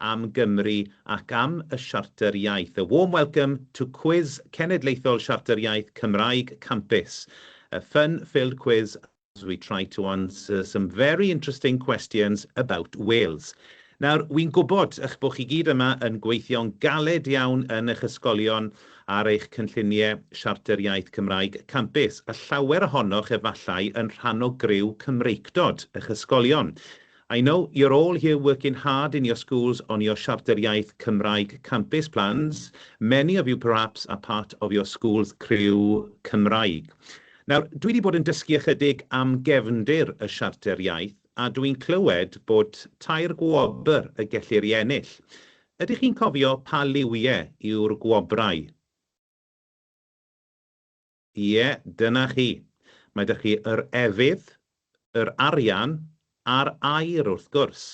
am Gymru ac am y Siarter Iaith, A Warm Welcome to Cwis Cenedlaethol Siarter Iaith Cymraeg Campus, a fun filled quiz as we try to answer some very interesting questions about Wales. Nawr, wi'n gwybod eich bod chi gyd yma yn gweithio'n galed iawn yn eich ysgolion ar eich cynlluniau Siarter Iaith Cymraeg Campus, a llawer ohonoch efallai yn rhan o griw Cymreictod eich ysgolion. I know you're all here working hard in your schools on your Siarter Iaith Cymraeg Campus plans, many of you perhaps are part of your school's criw Cymraeg. Nawr, dwi 'di bod yn dysgu ychydig am gefndir y Siarter Iaith a dw i'n clywed bod tair gwobr y gellir ei ennill. Ydych chi'n cofio pa liwiau yw'r gwobrau? Ie, dyna chi. Mae 'da chi yr efydd, yr arian a'r air, wrth gwrs.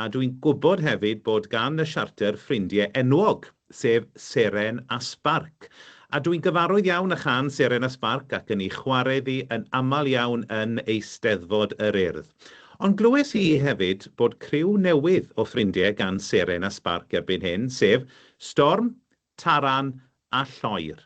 A dw i'n gwybod hefyd bod gan y Siarter ffrindiau enwog, sef Seren a Sbarc. A dw i'n gyfarwydd iawn â chân Seren a Sbarc ac yn ei chwarae iddi yn aml iawn yn Eisteddfod yr Urdd. Ond glywes i hefyd bod criw newydd o ffrindiau gan Seren a Sbarc erbyn hyn, sef Storm, Taran a Lloer.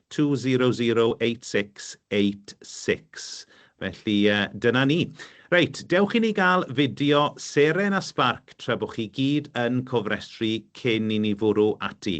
200866 Felly dyna ni. Reit, dewch i ni gael fideo seren a sbarc tra bo chi gyd yn cofrestru cyn i ni fwrw ati.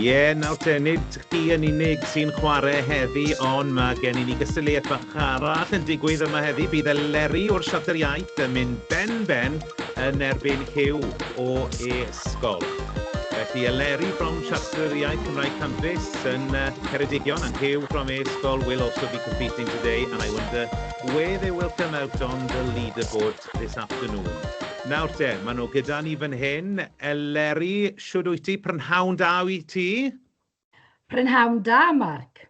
Ie, nawr te, nid chdi yn unig sy'n chware heddi, ond mae gen i ni gystadleuaeth fach arall yn digwydd yma heddi. Bydd Eleri o'r Siarter Iaith yn mynd ben ben yn erbyn Huw o E ysgol. Felly Eleri from Siartrwydd Iaith Cymraeg Campus yn Ceredigion and Huw from ei ysgol will also be competing today and I wonder where they will come out on the leaderboard this afternoon. Nawr te, maen nhw gyda ni fan hyn. Eleri, shwd wyt ti? Prynhawn da wyt ti? Prynhawn da, Mark.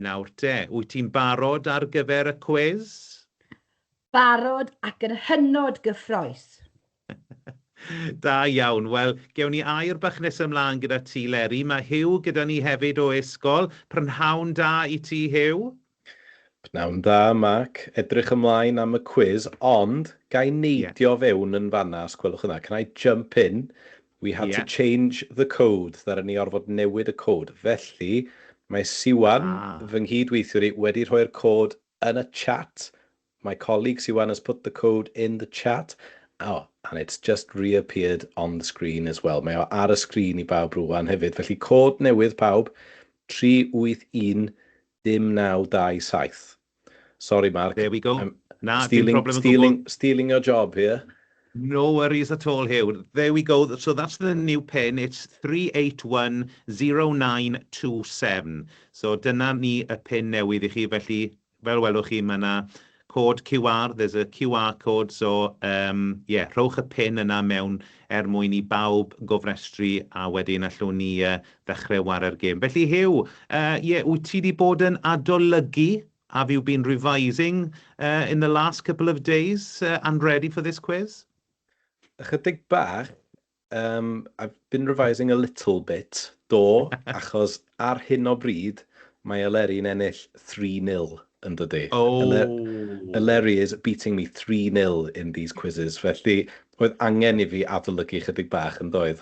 Nawr te, wyt ti'n barod ar gyfer y cwis? Barod ac yn hynod gyffrous! Da iawn. Wel, gewn ni air bach nesa ymlaen gyda ti, Leri. Mae Huw gyda ni hefyd o Esgol. Prynhawn da i ti, Huw. Pnawn dda, Mark. Edrych ymlaen am y cwis, ond ga i neidio fewn yn fan'na, os gwelwch yn dda. Can I jump in? We had to change the code, ddaru ni orfod newid y cod. Felly, mae Siwan, fy nghyd-weithiwr i, wedi rhoi'r cod yn y chat. My colleague Siwan has put the code in the chat. O, and it's just reappeared on the screen as well. Mae o ar y sgrin i bawb rŵan hefyd. Felly, cod newydd pawb, 381097. Sorry Mark. There we go. Na, dim problem o gwbl. Stealing your job here. No worries at all, Huw. There we go. So that's the new pin. It's 3810927. So dyna ni y pin newydd i chi. Felly, fel welwch chi, mae yna cod QR. There's a QR code. So, ie, rhowch y pin yna mewn mwyn i bawb gofrestru, a wedyn allwn ni ddechre ware'r gêm. Felly Huw, yy ie, wyt ti 'di bod yn adolygu, have you been revising uh, in the last couple of days uh, and ready for this quiz? Ychydig bach, um, I've been revising a little bit, do, achos ar hyn o bryd mae Eleri'n ennill 3-0 yn dydy. Oh. Eleri is beating me 3-0 in these quizzes, felly oedd angen i fi adolygu chydig bach yn doedd.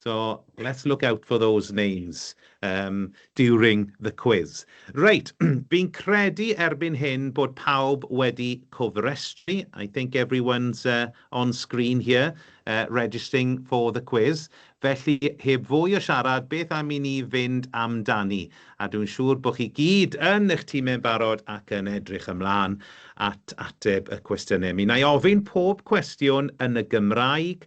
So, let's look out for those names um, during the quiz. Reit, fi'n credu erbyn hyn bod pawb wedi cofrestru. I think everyone's uh, on screen here uh, registering for the quiz. Felly, heb fwy o siarad, beth am i ni fynd amdani? A dwi'n siŵr bod chi gyd yn eich tîmau'n barod ac yn edrych ymlaen at ateb y cwestiynau. Mi na i ofyn pob cwestiwn yn y Gymraeg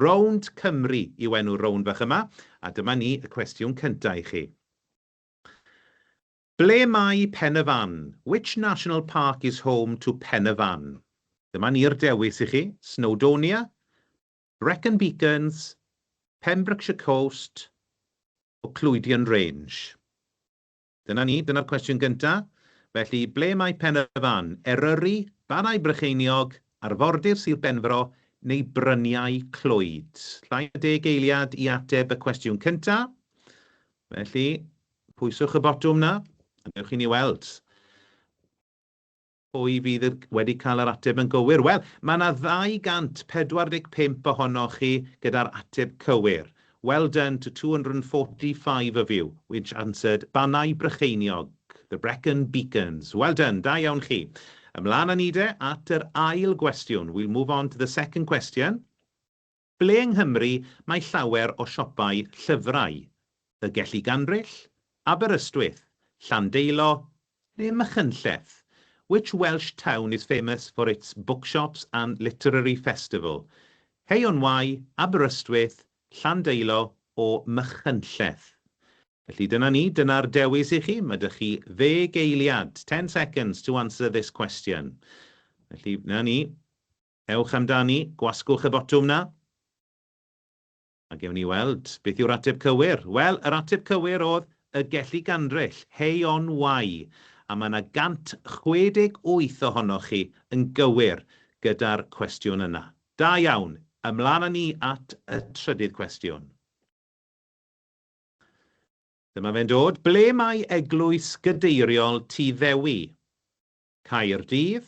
Rownd Cymru yw enw'r rownd fach yma, a dyma ni y cwestiwn cynta i chi. Ble mae Pen-y-fan? Which national park is home to Pen-y-fan? Dyma ni'r dewis i chi, Snowdonia, Brecon Beacons, Pembrokeshire Coast, or Clwydion Range. Dyna ni, dyna'r cwestiwn gyntaf. Felly, ble mae Pen y Fan? Eryri, Barai Brycheiniog, arfordir Sir Benfro, neu Bryniau Clwyd? Llai na deg eiliad i ateb y cwestiwn cyntaf. Felly, pwyswch y botwm 'na, a dewch i ni weld. Pwy fydd wedi cael yr ateb yn gywir? Wel, mae 'na 245 ohonoch chi gyda'r ateb cywir. Well done to 245 of you which answered Bannau Brycheiniog, the Brecon Beacons. Well done, da iawn chi. Ymlaen â ni de at yr ail gwestiwn. We'll move on to the second question. Ble yng Nghymru mae llawer o siopau llyfrau? Y Gelli Ganryll? Aberystwyth? Llandeilo? Neu Machynlleth? Which Welsh town is famous for its bookshops and literary festival? Hay-on-Wye, Aberystwyth, Llandeilo or Machynlleth? Felly dyna ni, dyna'r dewis i chi, mae 'da chi ddeg eiliad, ten seconds to answer this question. Felly, 'na ni. Ewch amdani, gwasgwch y botwm 'na. A gewn ni weld beth yw'r ateb cywir. Wel, yr ateb cywir oedd y Gelli Gandryll, Hei On Wai, a mae 'na 168 ohonoch chi yn gywir gyda'r cwestiwn yna. Da iawn! Ymlaen â ni at y trydydd cwestiwn. Dyma fe'n dod. Ble mae Eglwys Gadeiriol Tŷ Ddewi? Caerdydd,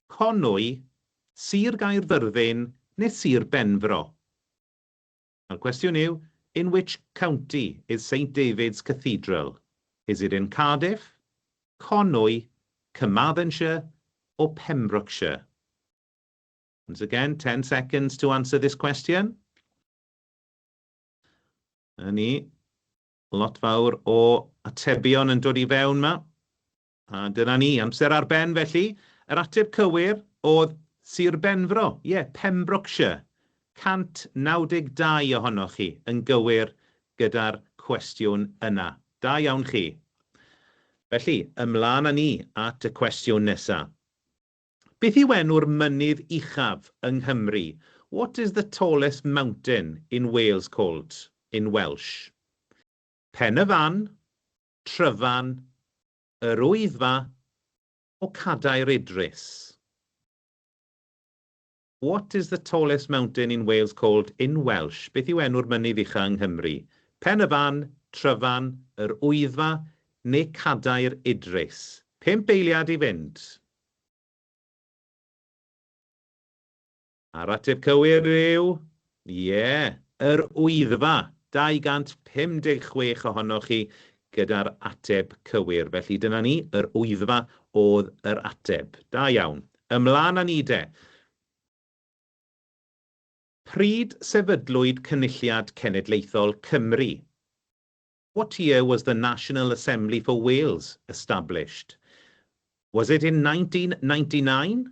Conwy, Sir Gaerfyrddin neu Sir Benfro? Mae'r cwestiwn yw, In which county is Saint David's Cathedral? Is it in Cardiff, Conwy, Carmarthenshire or Pembrokeshire? Once again, 10 seconds to answer this question. Yna ni, lot fawr o atebion yn dod i fewn yma. A dyna ni, amser ar ben felly. Yr ateb cywir oedd Sir Benfro, ie, Pembrokeshire. 192 ohonoch chi yn gywir gyda'r cwestiwn yna. Da iawn chi. Felly, ymlaen â ni at y cwestiwn nesa. Beth yw enw'r mynydd uchaf yng Nghymru? What is the tallest mountain in Wales called in Welsh? Pen-y-fan, Tryfan, Yr Wyddfa, O Cadair Idris. What is the tallest mountain in Wales called in Welsh? Beth yw enw'r mynydd ucha' yng Nghymru? Pen y Fan, Tryfan, Yr Wyddfa, neu Cadair Idris? Pump eiliad i fynd! A'r ateb cywir yw, ie. Yr Wyddfa, 256 ohonoch chi gyda'r ateb cywir. Felly dyna ni, Yr Wyddfa oedd yr ateb. Da iawn. Ymlaen â ni de. Pryd sefydlwyd Cynulliad Cenedlaethol Cymru? What year was the National Assembly for Wales established? Was it in 1999?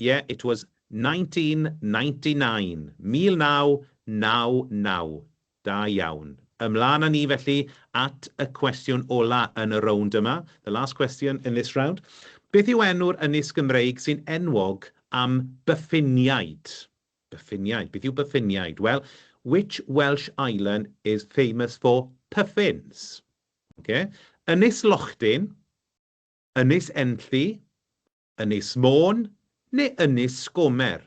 Ie, it was nineteen ninety nine, 1999. Da iawn. Ymlaen â ni felly at y cwestiwn ola' yn y rownd yma, the last question in this round. Beth yw enw'r ynys Gymreig sy'n enwog am byffiniaid? Byffiniaid, beth yw byffiniaid? Wel, which Welsh island is famous for puffins? Ocê. Ynys Lochdin, Ynys Enlli, Ynys Môn neu Ynys Sgomer?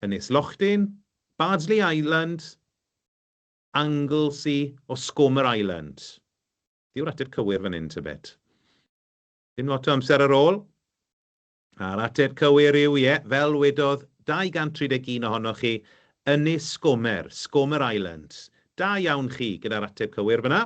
Ynys Lochdyn, Bardsley Island, Anglesey or Scomer Island? Yw'r ateb cywir fan hyn tybed? Dim lot o amser ar ôl. A'r ateb cywir yw, ie, fel wedodd 231 ohonoch chi, Ynys Sgomer, Scomer Island. Da iawn chi gyda'r ateb cywir fan'na.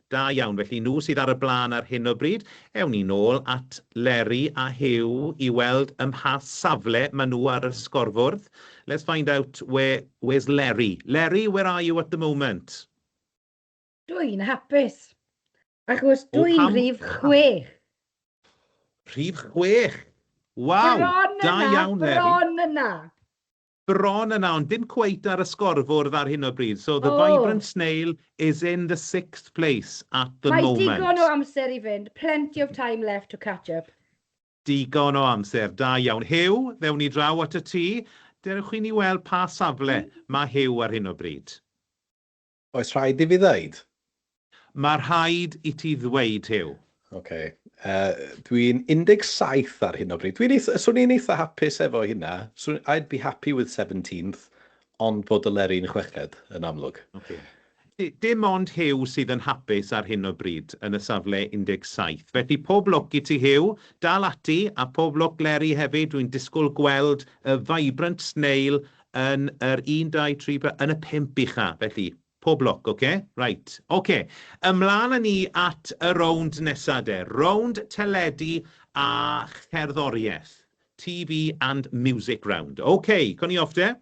Da iawn, felly nhw sydd ar y blaen ar hyn o bryd, ewn ni nôl at Leri a Huw i weld ym mha safle maen nhw ar y sgorfwrdd. Let's find out where, where's Leri? Leri, where are you at the moment? Dw i'n hapus, achos dw i'n rhif chwech. Rhif chwech! Waw! Da iawn, Leri. Bron yna, bron yna. bron yna ond dim cweit ar y sgorfwrdd ar hyn o bryd, so the vibrant snail is in the sixth place at the moment. Mae digon o amser i fynd, plenty of time left to catch up. Digon o amser, da iawn. Huw, ddewn ni draw at y ti, dewch i ni weld pa safle mae Huw ar hyn o bryd. Oes rhaid i fi ddeud? Mae rhaid i ti ddweud, Huw. Ok. Yy, dwi'n 17 ar hyn o bryd. Dwi'n eitha... swn i'n eitha hapus efo hynna. Swn... I'd be happy with seventeenth, ond bod y Leri'n chweched, yn amlwg. Ok. Dim ond Huw sydd yn hapus ar hyn o bryd yn y safle 17. Felly, pob lwc i ti, Huw. Dal ati, a pob lwc Leri hefyd. Dwi'n disgwyl gweld y vibrant snail Yn yr un, dau, tri, pe-. Yn y pump ucha', felly. Pob lwc, oce? Reit. Oce. Ymlaen â ni at y rownd nesa' de. Rownd teledu a cherddoriaeth. TV and music round. Oce, co ni off de.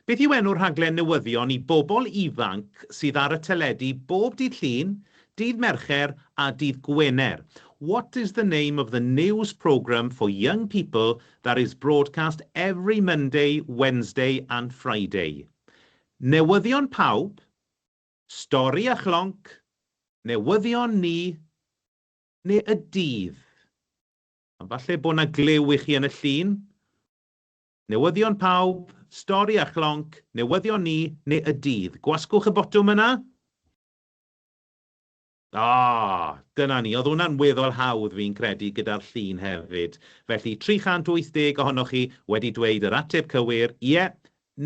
Beth yw enw'r rhaglen newyddion i bobl ifanc sydd ar y teledu bob dydd Llun, dydd Mercher a dydd Gwener? What is the name of the news programme for young people That is broadcast every Monday, Wednesday and Friday. Newyddion pawb, stori a chlonc, newyddion ni, neu y dydd. Ond falle bod na glyw i chi yn y llun. Newyddion pawb, stori a chlonc, newyddion ni, neu y dydd. Gwasgwch y botwm yna. Aw! Dyna ni. Oedd hwnna'n weddol hawdd fi'n credu gyda'r llun hefyd. Felly, 380 ohonoch chi wedi dweud yr ateb cywir, ie,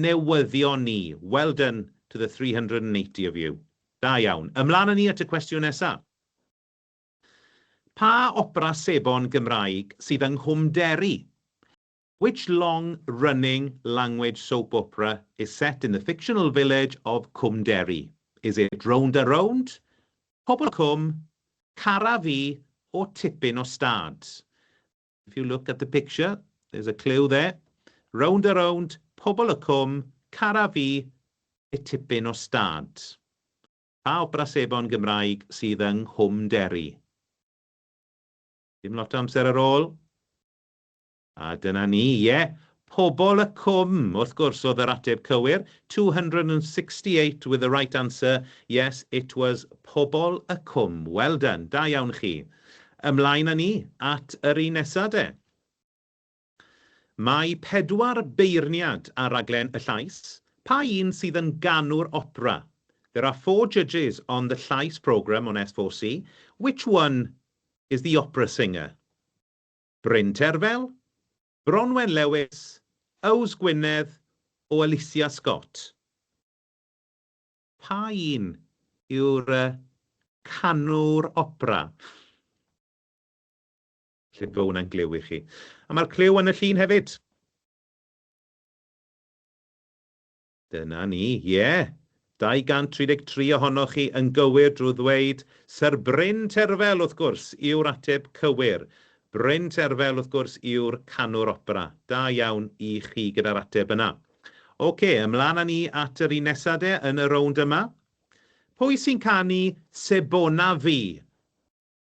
newyddion ni. Well done to the 380 of you. Da iawn. Ymlaen â ni at y cwestiwn nesa. Pa opera sebon Gymraeg sydd yng Nghwm Derry? Which long running language soap opera is set in the fictional village of Cwm Derry? Is it Rownd a Rownd, Pobl Cwm, Cara Fi or Tipyn o Stad? If you look at the picture, there's a clue there. Rownd a Rownd, Pobl y Cwm, Cara Fi neu Tipyn o Stad? Pa opera sebon Gymraeg sydd yng Nghwm Derry? Dim lot o amser ar ôl. A dyna ni, ie, Pobol y Cwm, wrth gwrs, oedd yr ateb cywir, 268 with the right answer, yes, it was Pobol y Cwm. Well done, da iawn chi. Ymlaen â ni at yr un nesa de. Mae pedwar beirniad ar raglen Y Llais, pa un sydd yn ganu'r opera? There are four judges on the Llais programme on S4C, which one is the opera singer? Bryn Terfel, Bronwen Lewis, Yws Gwynedd o Alicia Scott. Pa un yw'r yy canwr opera? Falle bo hwnna'n gliw i chi. A mae'r cliw yn y llun hefyd. Dyna ni, ie! 233 ohonoch chi yn gywir drwy ddweud Syr Bryn Terfel, wrth gwrs, yw'r ateb cywir. Bryn Terfel, wrth gwrs, yw'r canwr opera. Da iawn i chi gyda'r ateb yna. Ocê, ymlaen â ni at yr un nesa de, yn y rownd yma. Pwy sy'n canu Sebona Fi?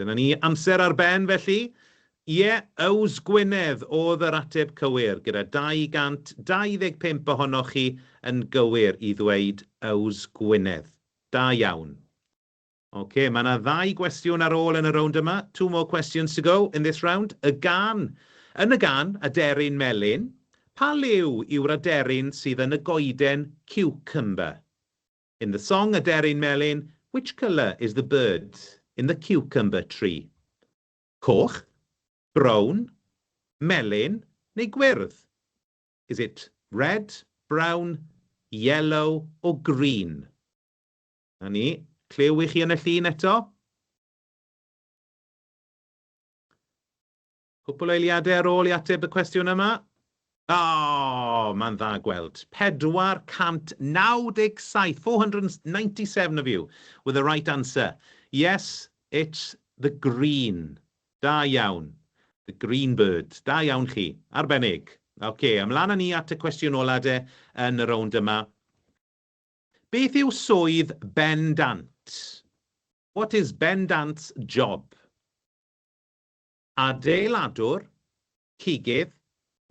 Dyna ni, amser ar ben felly? Ie, Yws Gwynedd oedd yr ateb cywir, gyda 225 ohonoch chi yn gywir i ddweud Yws Gwynedd. Da iawn. Ok, mae yna ddau gwestiwn ar ôl yn y rownd yma, two more questions to go in this round. Y gân, yn y gân, Aderyn Melyn, pa liw yw'r aderyn sydd yn y goeden cucumber? In the song Aderyn Melyn, which colour is the bird in the cucumber tree? Coch, brown, melyn neu gwyrdd? Is it red, brown, yellow or green? Na ni, clyw i chi yn y llun eto? Cwpwl eiliadau ar ôl i ateb y cwestiwn yma. O! Mae'n dda gweld. 497, 497 of you with the right answer. Yes, it's the green. Da iawn. The green bird. Da iawn chi. Arbennig. Ok, ymlaen â ni at y cwestiwn ola de yn y rownd yma. Beth yw swydd bendant? What is bendant's job? adeiladwr, cigydd,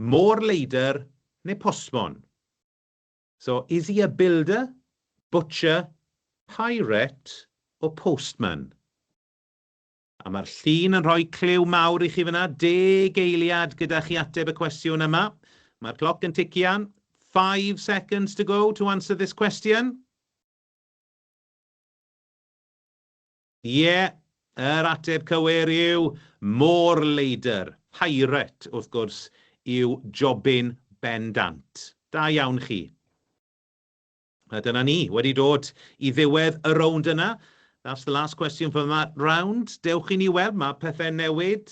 môr-leidr neu postmon. So, is he a builder, butcher, pirate or postman? A mae'r llun yn rhoi clyw mawr i chi fyna, deg eiliad gyda chi ateb y cwestiwn yma. Mae'r cloc yn tician, five seconds to go to answer this question. Ie, yr ateb cywir yw Môr Leidr. Pirate, wrth gwrs, yw Jobyn bendant. Da iawn chi. A dyna ni, wedi dod i ddiwedd y rownd yna. That's the last question for that round. Dewch i ni weld, mae pethau'n newid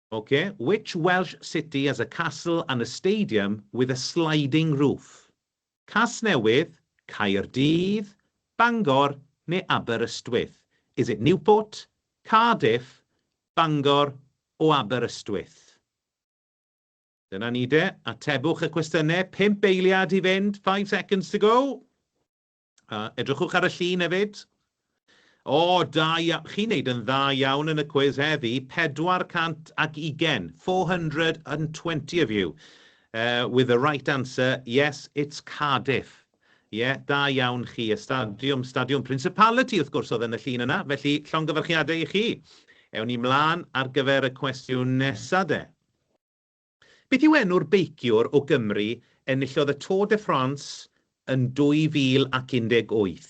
Ok, which Welsh city has a castle and a stadium with a sliding roof? Casnewydd, Caerdydd, Bangor neu Aberystwyth? Is it Newport, Cardiff, Bangor o Aberystwyth? Dyna ni de, atebwch y cwestiynau, pump eiliad i fynd, five seconds to go. Uh, edrychwch ar y llun hefyd. O, da iawn. Chi'n neud yn dda iawn yn y cwiz heddi. 420, 420 of you, uh, with the right answer. Yes, it's Cardiff. Ie, yeah, da iawn chi. Y stadiwm, stadiwm Principality, wrth gwrs, oedd yn y llun yna. Felly, llongyfarchiadau i chi. Ewn ni mlaen ar gyfer y cwestiwn nesa de. Beth yw enw'r beiciwr o Gymru enillodd y Tour de France yn 2018?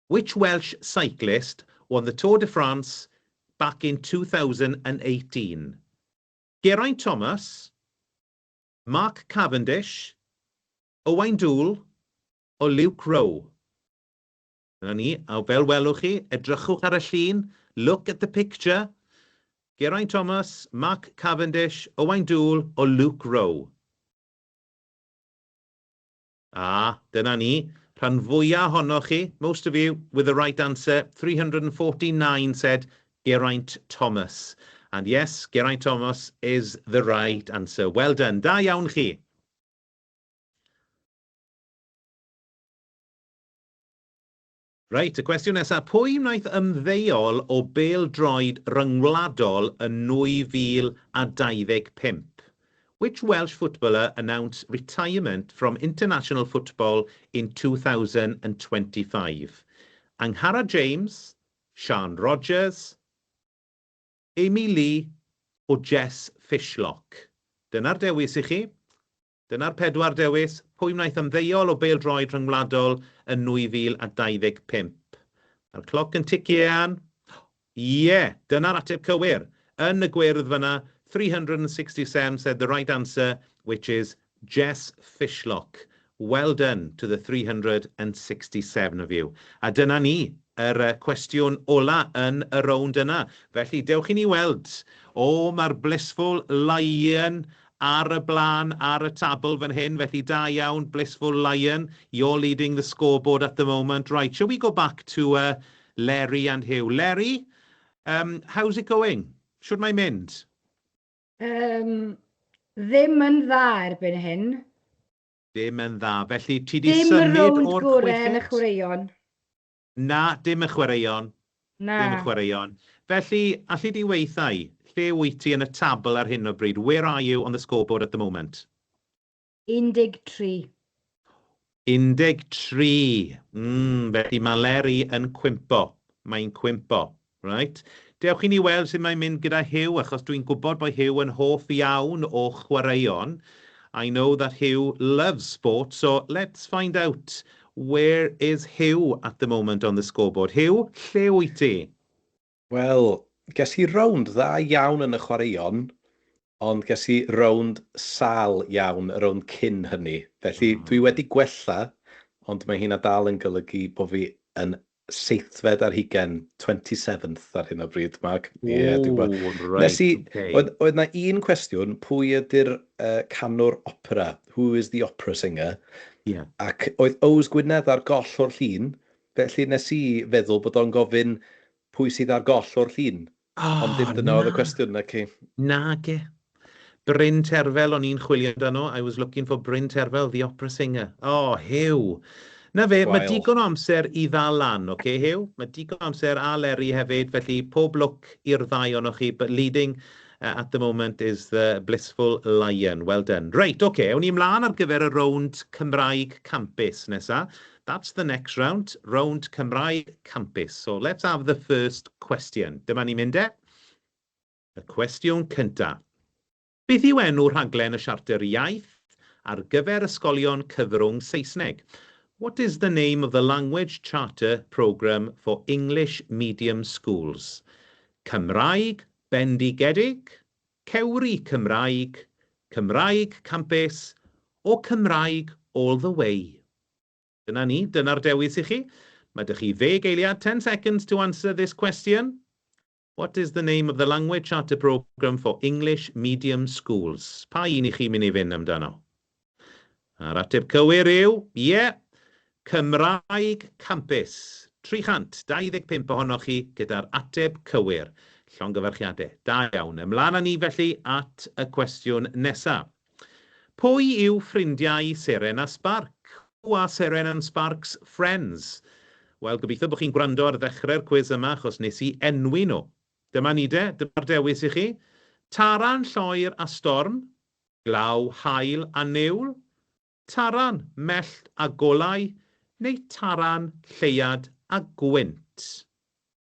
Which Welsh cyclist won the Tour de France back in 2018? Geraint Thomas? Mark Cavendish? Owain Doull? Or Luke Rowe? 'Na ni, a fel welwch chi, edrychwch ar y llun, look at the picture, Geraint Thomas, Mark Cavendish, Owain Doull or Luke Rowe. A, dyna ni, rhan fwya' ohonoch chi, most of you, with the right answer, 349 said Geraint Thomas. And yes, Geraint Thomas is the right answer. Well done, da iawn chi! Reit, y cwestiwn nesaf, pwy wnaeth ymddeol o bêl-droed ryngwladol yn 2025? Which Welsh footballer announced retirement from international football in 2025? Angharad James, Siân Rogers, Amy Lee o Jess Fishlock? Dyna'r dewis i chi. Dyna'r pedwar dewis, pwy wnaeth ymddeol o bêl-droed rhyngwladol yn 2025? Mae'r cloc yn ticio Ieuan. Ie! Dyna'r ateb cywir! Yn y gwyrdd fan'na, 360 Sem said the right answer, which is Jess Fishlock. Well done to the 367 of you. A dyna ni, yr cwestiwn ola yn y rownd yna. Felly, dewch i ni weld. O, mae'r blissful Laean ar y blaen ar y tabl fan hyn, felly da iawn, Blissful Lion, you're leading the scoreboard at the moment. Right, shall we go back to uh, Leri and Hugh? Leri, um, how's it going? Shwt mae'n mynd? Um, ddim yn dda erbyn hyn. Ddim yn dda, felly ti di symud o'r chweched? Dim y rownd gorau yn y chwaraeon. Na, dim y chwaraeon. Na. Dim y chwaraeon. Felly, alli di weitha i, lle wyt ti yn y tabl ar hyn o bryd? Where are you on the scoreboard at the moment? 13. 13. Mm, felly mae Leri yn cwympo. Mae hi'n cwympo. Reit, dewch i ni weld sut mae'n mynd gyda Huw, achos dwi'n gwybod bod Huw yn hoff iawn o chwaraeon. I know that Huw loves sport, so let's find out where is Huw at the moment on the scoreboard. Huw, lle wyt ti? Wel, ges i rownd dda iawn yn y chwaraeon, Ond ges i rownd sâl iawn y rownd cyn hynny, felly dwi wedi gwella, ond mae hynna dal yn golygu bo fi yn seithfed ar hugain, twenty seventh ar hyn o bryd, Mark. Ie, dwi'n gwbod. Ww, reit, ocê. Nes i, oedd, oedd na un cwestiwn, pwy ydy'r uh, canwr opera? Who is the opera singer? Ie. Yeah. Ac oedd Ows Gwynedd ar goll o'r llun, felly nes i feddwl bod o'n gofyn pwy sydd ar goll o'r llun. Oh, Ond dim dyna oedd y cwestiwn, na ci. Na ge. Bryn Terfel o'n i'n chwilio amdano, I was looking for Bryn Terfel, the opera singer. O, oh, Huw! Na fe, mae digon o amser i ddal lan, oce okay, Huw? Mae digon o amser a Leri hefyd, felly pob lwc i'r ddau o'n chi, but leading uh, at the moment is the blissful lion. Well done. Reit, oce, okay, ewn ni ymlaen ar gyfer y rownd Cymraeg Campus nesa. That's the next round, rownd Cymraeg Campus. So let's have the first question. Dyma ni'n mynd e. Y cwestiwn cynta. Beth yw enw rhaglen y Siarter Iaith ar gyfer ysgolion cyfrwng Saesneg? What is the name of the Language Charter Programme for English Medium Schools? Cymraeg bendigedig, Cewri Cymraeg, Cymraeg Campus, or Cymraeg all the way? Dyna ni, dyna'r dewis i chi. Mae 'da chi ddeg eiliad, ten seconds, to answer this question. What is the name of the Language Charter Programme for English Medium Schools? Pa un i chi mynd i fynd amdano? A'r ateb cywir yw, ie, Cymraeg Campus. 325 ohonoch chi gyda'r ateb cywir. Llongyfarchiadau. Da iawn. Ymlaen â ni felly at y cwestiwn nesaf. Pwy yw ffrindiau Seren a Sparc? Who are Seren and Spark's friends? Wel, gobeithio bod chi'n gwrando ar ddechrau'r cwis yma achos nes i enwi nhw. Dyma ni de, dyma'r dewis i chi. Taran, lloer a storm. Glaw, haul a niwl. Taran, mellt a golau. Neu taran, lleuad a gwynt.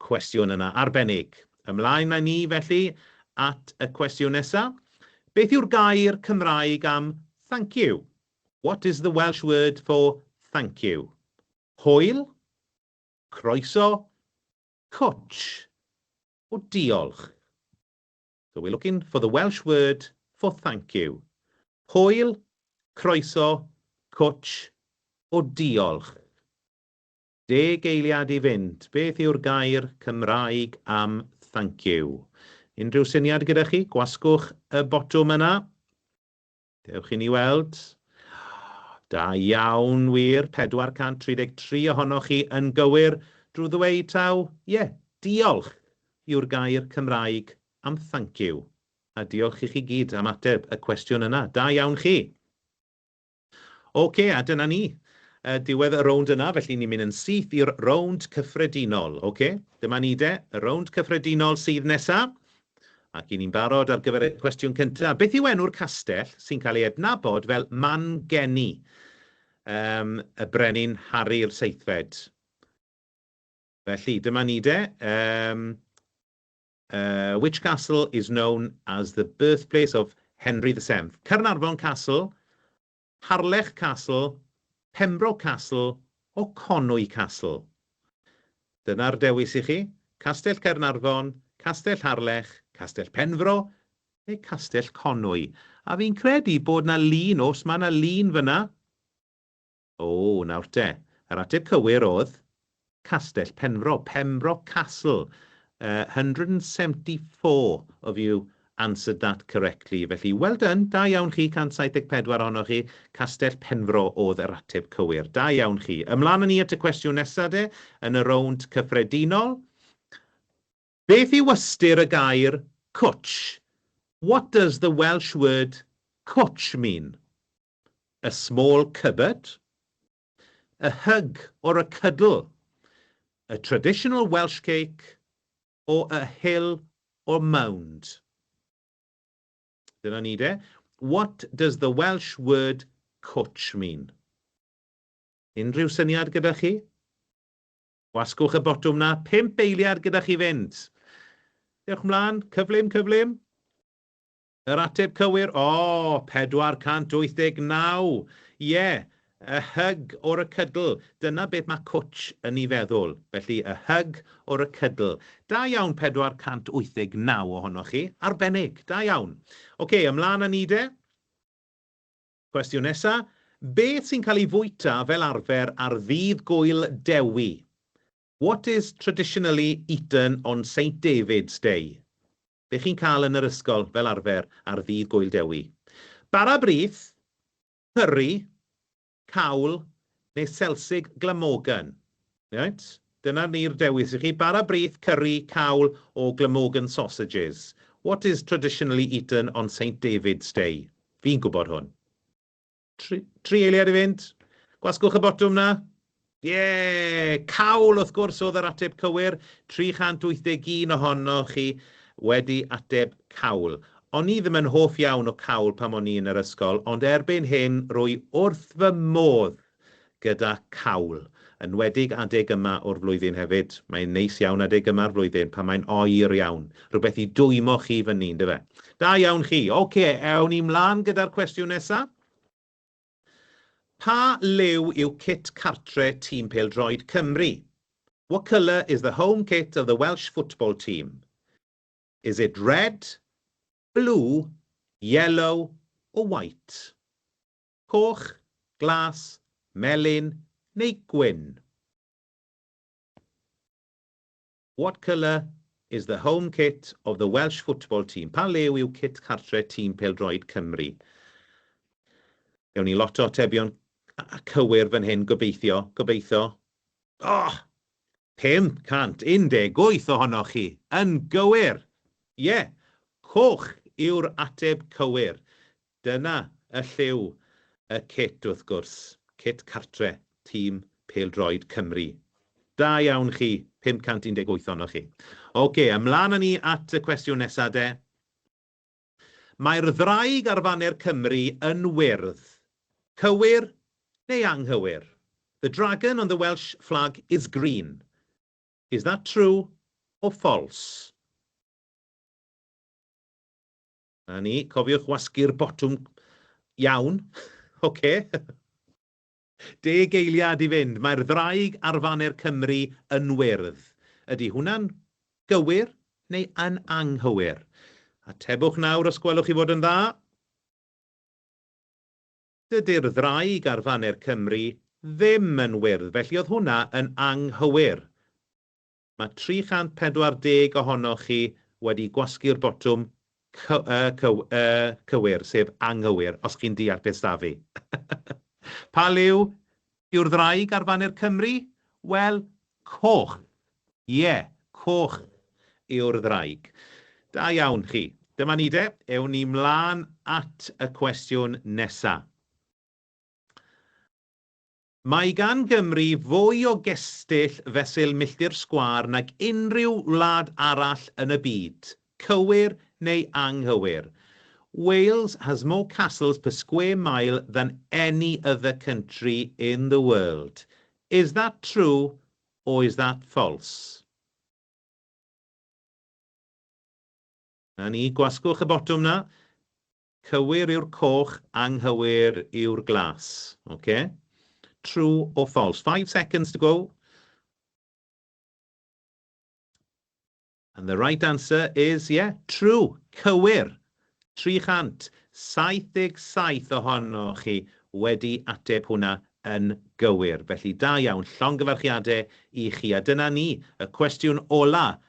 Cwestiwn yna arbennig. Ymlaen â ni, felly, at y cwestiwn nesa'. Beth yw'r gair Cymraeg am 'thank you'? What is the Welsh word for 'thank you'? Hwyl? Croeso? Cwtsh? O diolch? So we're looking for the Welsh word for 'thank you'. Hwyl? Croeso? Cwtsh? O diolch? Deg eiliad i fynd, beth yw'r gair Cymraeg am thank you? Unrhyw syniad gyda chi? Gwasgwch y botwm yna. Dewch i ni weld. Da iawn, wir, 433 ohonoch chi yn gywir. Drwy ddweud taw, ie, yeah, diolch yw'r gair Cymraeg am thank you. A diolch i chi gyd am ateb y cwestiwn yna. Da iawn chi. Ok, a dyna ni. Diwedd y rownd yna, felly ni'n mynd yn syth i'r rownd cyffredinol. Ok, dyma ni de, y rownd cyffredinol sydd nesa. Ac i ni'n barod ar gyfer y cwestiwn cynta. Beth yw enw'r castell sy'n cael ei adnabod fel Man Geni um, y Brenin Harri'r Seithfed? Felly, dyma ni de. Um, Which castle is known as the birthplace of Henry the Seventh? Caernarfon Castle, Harlech Castle, Pembroke Castle or Conwy Castle? Dyna'r dewis i chi, Castell Caernarfon, Castell Harlech, Castell Penfro neu Castell Conwy. A fi'n credu bod 'na lun, oes, ma' 'na lun fan'na. O, nawr te, yr ateb cywir oedd, Castell Penfro, Pembroke Castle. Yy, hundred and seventy four of you answered that correctly, felly well done, da iawn chi, 174 ohonoch chi, Castell Penfro oedd yr ateb cywir. Da iawn chi. Ymlaen â ni at y cwestiwn nesa de, yn y rownd cyffredinol. Beth yw ystyr y gair cwtsh? What does the Welsh word cwtsh mean? A small cupboard, a hug or a cuddle, a traditional Welsh cake or a hill or mound. Dyna ni de. What does the Welsh word cwtsh mean? Unrhyw syniad gyda chi? Gwasgwch y botwm 'na, pump eiliad gyda chi fynd. Dewch mlaen, cyflym, cyflym. Yr ateb cywir, o! 489! Ie! A hug or a cuddle, dyna beth mae Cwtsh yn ei feddwl. Felly, a hug or a cuddle. Da iawn 489 ohonoch chi. Arbennig! Da iawn. Ocê, ymlaen â ni de. Cwestiwn nesa. Beth sy'n cael ei fwyta fel arfer ar Ddydd Gŵyl Dewi? What is traditionally eaten on Saint David's Day? be chi'n cael yn yr ysgol fel arfer ar ddydd Gŵyl Dewi. Bara brith, cyri, cawl neu selsig Glamorgan. Reit, dyna ni'r dewis i chi, bara brith, cyri, cawl or Glamorgan sausages. What is traditionally eaten on Saint David's Day? Fi'n gwybod hwn. Tri, tri eiliad i fynd. Gwasgwch y botwm na. Ie! Yeah! Cawl, wrth gwrs, oedd yr ateb cywir. 381 ohonoch chi wedi ateb cawl. O'n i ddim yn hoff iawn o cawl pam o'n i yn yr ysgol, ond erbyn hyn rwy wrth fy modd gyda cawl. Enwedig adeg yma o'r flwyddyn hefyd. Mae'n neis iawn adeg yma'r flwyddyn pan mae'n oer iawn. Rhywbeth i dwymo chi fyny, yndyfe? Da iawn chi. Ocê, ewn ni mlan gyda'r cwestiwn nesa. Pa liw yw cit cartre tîm pêl-droed Cymru? What colour is the home kit of the Welsh football team? Is it red, blue, yellow or white? coch, glas, melyn neu gwyn. What colour is the home kit of the Welsh football team? Pa liw yw cit cartre tîm pêl-droed Cymru? Gawn ni lot o atebion cywir fan hyn, gobeithio, gobeithio. Oh! 518 ohonoch chi, yn gywir! Ie, yeah, coch yw'r ateb cywir. Dyna y lliw, y cit wrth gwrs, cit cartre tîm pêl-droed Cymru. Da iawn chi, 518 ohonoch chi. Ocê, ymlaen â ni at y cwestiwn nesa de. Mae'r ddraig ar faner Cymru yn wyrdd. Cywir neu anghywir? The dragon on the Welsh flag is green. Is that true or false? 'Na ni, cofiwch wasgu'r botwm iawn. Ocê. Deg eiliad i fynd. Mae'r ddraig ar faner Cymru yn wyrdd. Ydy hwnna'n gywir neu yn anghywir? Atebwch nawr os gwelwch chi fod yn dda. Dydy'r ddraig ar faner Cymru ddim yn wyrdd, felly oedd hwnna yn anghywir. Mae 340 ohonoch chi wedi gwasgu'r botwm cywir, sef anghywir, os chi'n deall beth s'da fi. Pa liw yw'r ddraig ar faner Cymru? Wel, coch. Ie, coch yw'r ddraig. Da iawn chi. Dyma ni de, ewn ni 'mlaen at y cwestiwn nesa. Mae gan Gymru fwy o gestyll fesul milltir sgwâr nag unrhyw wlad arall yn y byd, cywir neu anghywir? Wales has more castles per square mile than any other country in the world. Is that true or is that false? Na ni, gwasgwch y botwm 'na. Cywir yw'r coch, anghywir yw'r glas. Ok? True or false? Five seconds to go. And the right answer is, yeah, true, cywir. 377 ohonoch chi wedi ateb hwnna yn gywir. Felly da iawn, llongyfarchiadau i chi. A dyna ni, y cwestiwn ola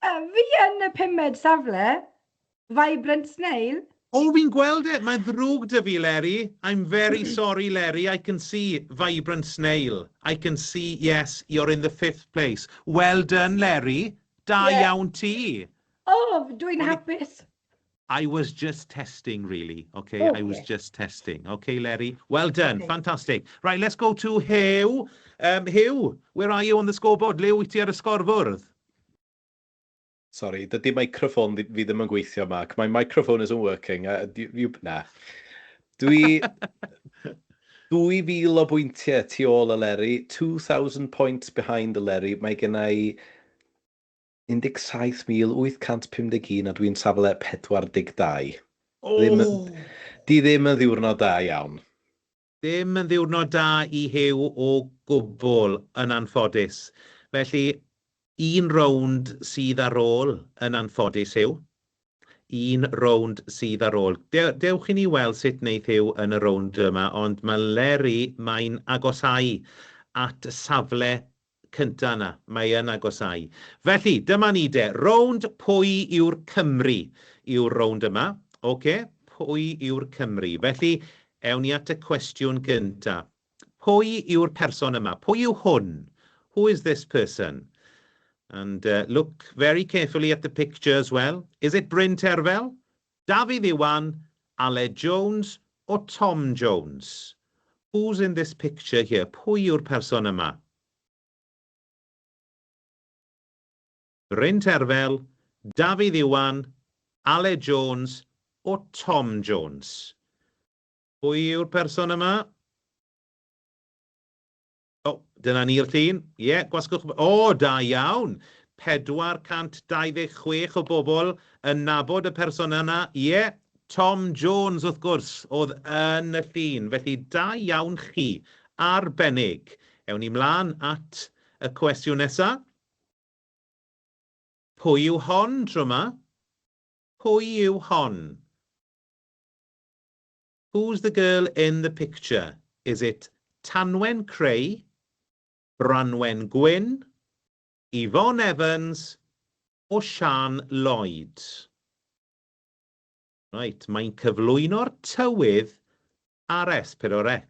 Fi yn y pumed safle, Vibrant Snail. O, fi'n gweld e! Mae'n ddrwg 'da fi, Leri. I'm very sorry, Leri, I can see, Vibrant Snail, I can see, yes, you're in the fifth place. Well done, Leri! Da iawn ti! O, dwi'n hapus! I was just testing really, ok, oh, I was yeah. just testing. Ok, Leri, well done, okay. fantastic. Right, let's go to Hugh. Um, Hugh, where are you on the scoreboard? Le wyt ti ar y sgorfwrdd? Sorry, dydy microphone fi ddim yn gweithio, Mark. My microphone isn't working. Uh, you, you, na. Dwi... 2000 o bwyntiau tu ôl y Leri, 2,000 points behind the Leri. Mae gen i 17,851 a dwi'n safle 42. Ddim yn... Ww! Di ddim yn ddiwrnod da iawn. Dim yn ddiwrnod da i Huw o gwbl, yn anffodus. Felly, un rownd sydd ar ôl, yn anffodus, Huw. un rownd sydd ar ôl. Dewch i ni weld sut wneith Huw yn y rownd yma, ond mae Leri, mae'n agosáu at y safle cyntaf yna. Mae yn agosáu. Felly, dyma ni de. Rownd pwy yw'r Cymry yw'r rownd yma. Ocê, pwy yw'r Cymry. Felly, ewn ni at y cwestiwn gyntaf. Pwy yw'r person yma? Pwy yw hwn? Who is this person? And uh, look very carefully at the picture as well. Is it Bryn Terfel? Dafydd Iwan, Aled Jones or Tom Jones? Who's in this picture here? Pwy yw'r person yma? Bryn Terfel, Dafydd Iwan, Aled Jones or Tom Jones? Pwy yw'r person yma? O, dyna ni'r llun. Ie, gwasgwch... O, da iawn! 426 o bobl yn nabod y person yna. Ie, Tom Jones, wrth gwrs, oedd yn y llun. Felly, da iawn chi. Arbennig. Ewn ni mlaen at y cwestiwn nesa. Pwy yw hon tro yma? Pwy yw hon? Who's the girl in the picture? Is it Tanwen Creu, Branwen Gwyn, Yvonne Evans or Siân Lloyd? Right, mae'n cyflwyno'r tywydd ar S4C.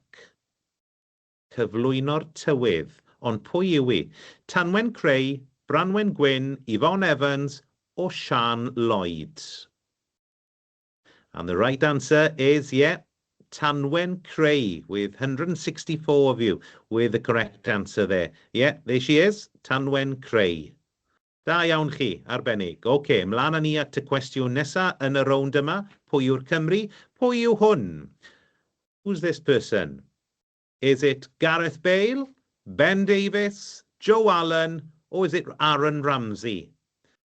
Cyflwyno'r tywydd. Ond pwy yw i? Tanwen Creu, Branwen Gwyn, Yvonne Evans o Siân Lloyd? And the right answer is, yeah, Tanwen Creu, with 164 of you with the correct answer there. Yeah, there she is, Tanwen Creu. Da iawn chi, arbennig. OK, mlaen â ni at y cwestiwn nesa yn y rownd yma. Pwy yw'r Cymry? Pwy yw hwn? Who's this person? Is it Gareth Bale, Ben Davies, Joe Allen, or is it Aaron Ramsey?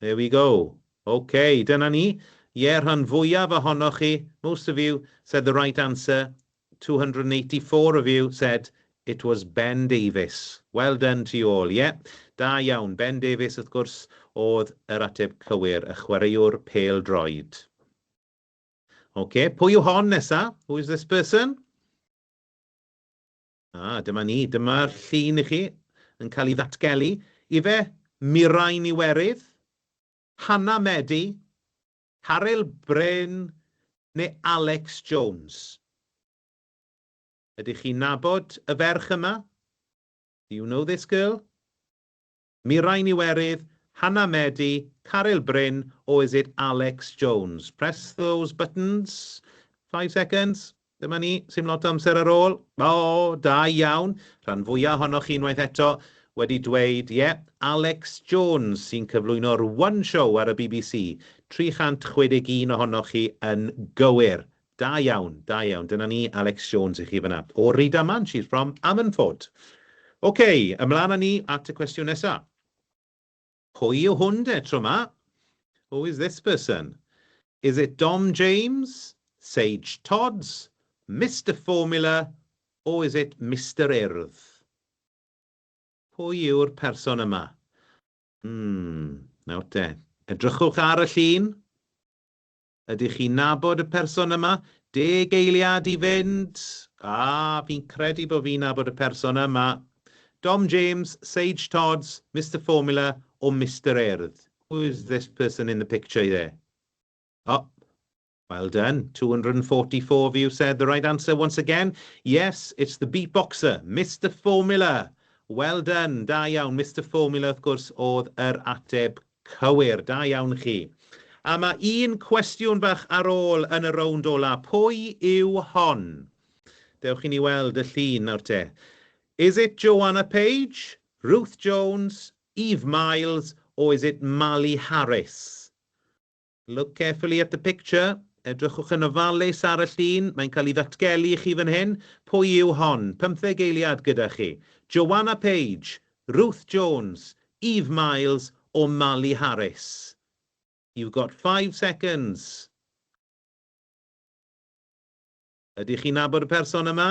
There we go. Ok, dyna ni. Ie, rhan fwyaf ohonoch chi, most of you, said the right answer, 284 of you said it was Ben Davies. Well done to you all, ie. Da iawn, Ben Davies wrth gwrs oedd yr ateb cywir, y chwaraewr pêl-droed. Ok, pwy yw hon nesa? Who is this person? A, dyma ni. Dyma'r llun i chi yn cael ei ddatgelu. Ife, Mirain Iwerydd? Hannah Medi? Caryl Bryn? Neu Alex Jones? Ydych chi'n nabod y ferch yma? Do you know this girl? Mirain Iwerydd, Hannah Medi, Caryl Bryn, oh is it Alex Jones? Press those buttons. Five seconds. Dyma ni, sim lot o amser ar ôl. O, da iawn. Rhan fwya ohonoch chi unwaith eto wedi dweud, ie, yeah, Alex Jones sy'n cyflwyno'r One Show ar y bbc. 361 ohonoch chi yn gywir. Da iawn, da iawn. Dyna ni, Alex Jones i chi fan'na. O Rydaman, she's from Ammanford. Ok, ymlaen â ni at y cwestiwn nesa. Pwy yw hwn de, tro 'ma? Who is this person? Is it Dom James, Sage Todds, Mister Formula, or is it Mister Urdd? Pwy yw'r person yma? Hmm, nawr te. Edrychwch ar y llun. Ydych chi'n nabod y person yma? Deg eiliad i fynd! A, fi'n credu bod fi'n nabod y person yma. Dom James, Sage Todds, Mister Formula or Mister Urdd? Who is this person in the picture there? O! Well done, 244 of you said the right answer once again. Yes, it's the beatboxer, Mister Formula! Well done, da iawn. Mister Formula, wrth gwrs, oedd yr ateb Cywir, da iawn chi. A ma un cwestiwn bach ar ôl yn y rownd ola, pwy yw hon? Dewch i ni weld y llun nawr te. Is it Joanna Page, Ruth Jones, Eve Miles or is it Mali Harris? Look carefully at the picture, edrychwch yn ofalus ar y llun, mae'n cael ei ddatgelu i chi fan hyn, pwy yw hon? Pymtheg eiliad gyda chi. Joanna Page, Ruth Jones, Eve Miles or Marley Harris? You've got five seconds. Ydych chi'n nabod y person yma?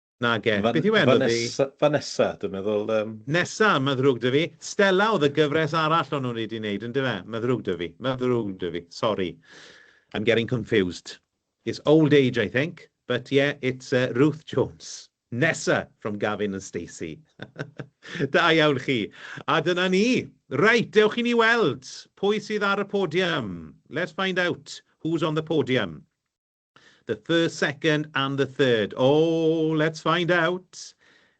Nage. Fan- Beth yw enw ddi? Vanessa, Vanessa, dwi'n meddwl. Um... Nesa, mae ddrwg dy fi. Stella oedd y gyfres arall o'n nhw'n wedi wneud, yn dyfe? Mae ddrwg dy fi. Mae ddrwg dy fi. Sorry. I'm getting confused. It's old age, I think. But yeah, it's uh, Ruth Jones. Nesa from Gavin and Stacey. da iawn chi. A dyna ni. Reit, dewch i ni weld pwy sydd ar y podium. Let's find out who's on the podium. The first, second and the third. Oh, let's find out.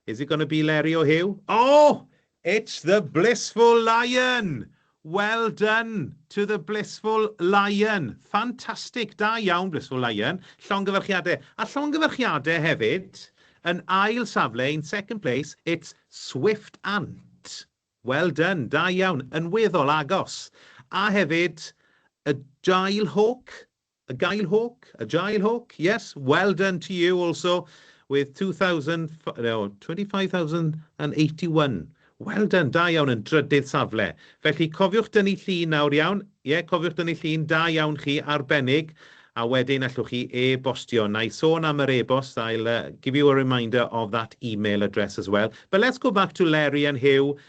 Is it going to be Leri o Huw? Oh, it's the Blissful Lion! Well done to the Blissful Lion. Fantastic, da iawn Blissful Lion. Llongyfarchiadau. A llongyfarchiadau hefyd, yn ail safle, in second place, it's Swift Ant. Well done, da iawn, yn weddol agos. A hefyd, y Jail Hawk, A Gail Hawke, a Jael Hawke, yes, well done to you also with 2000, no, 25,081. Well done, da iawn yn drydydd safle. Felly cofiwch dynnu llun nawr, iawn? Ie, yeah, cofiwch dynnu llun, da iawn chi, arbennig. A wedyn allwch chi e-bostio. Na i sôn am yr e-bost, I'll uh, give you a reminder of that email address as well. But let's go back to Larry and Hugh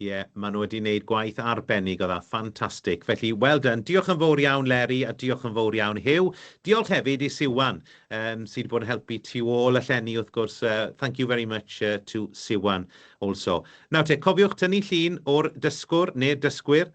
Ie, maen nhw wedi wneud gwaith arbennig o dda, ffantastig. Felly, well done. Diolch yn fawr iawn Leri a diolch yn fawr iawn Huw. Diolch hefyd i Siwan, um, sydd wedi bod yn helpu tu ôl y llenni wrth gwrs. Uh, thank you very much uh, to Siwan also. Nawr te, cofiwch tynnu llun o'r dysgwr neu'r dysgwyr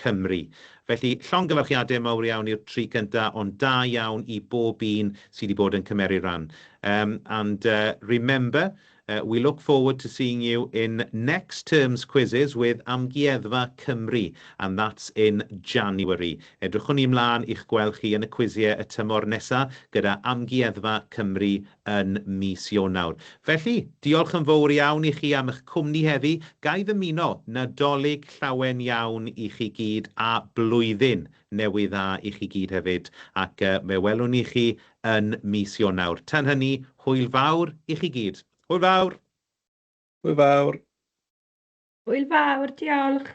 Cymru. Felly, llongyfarchiade mawr iawn i'r tri cynta, ond da iawn i bob un sy 'di bod yn cymeru ran. Erm, and uh, remember, uh, we look forward to seeing you in next term's quizzes with Amgueddfa Cymru, and that's in January. Edrychwn i mlân i'ch gweld chi yn y cwizie y tymor nesa gyda Amgueddfa Cymru yn mis Ionawr. Felly, diolch yn fowr iawn i chi am eich cwmni heddi, ga i ddymuno Nadolig llawen iawn i chi gyd a Blwyddyn Newydd Dda i chi gyd hefyd, ac fe welwn ni chi yn mis Ionawr. Tan hynny, hwyl fawr i chi gyd. Hwyl fawr! Hwyl fawr! Hwyl fawr, diolch!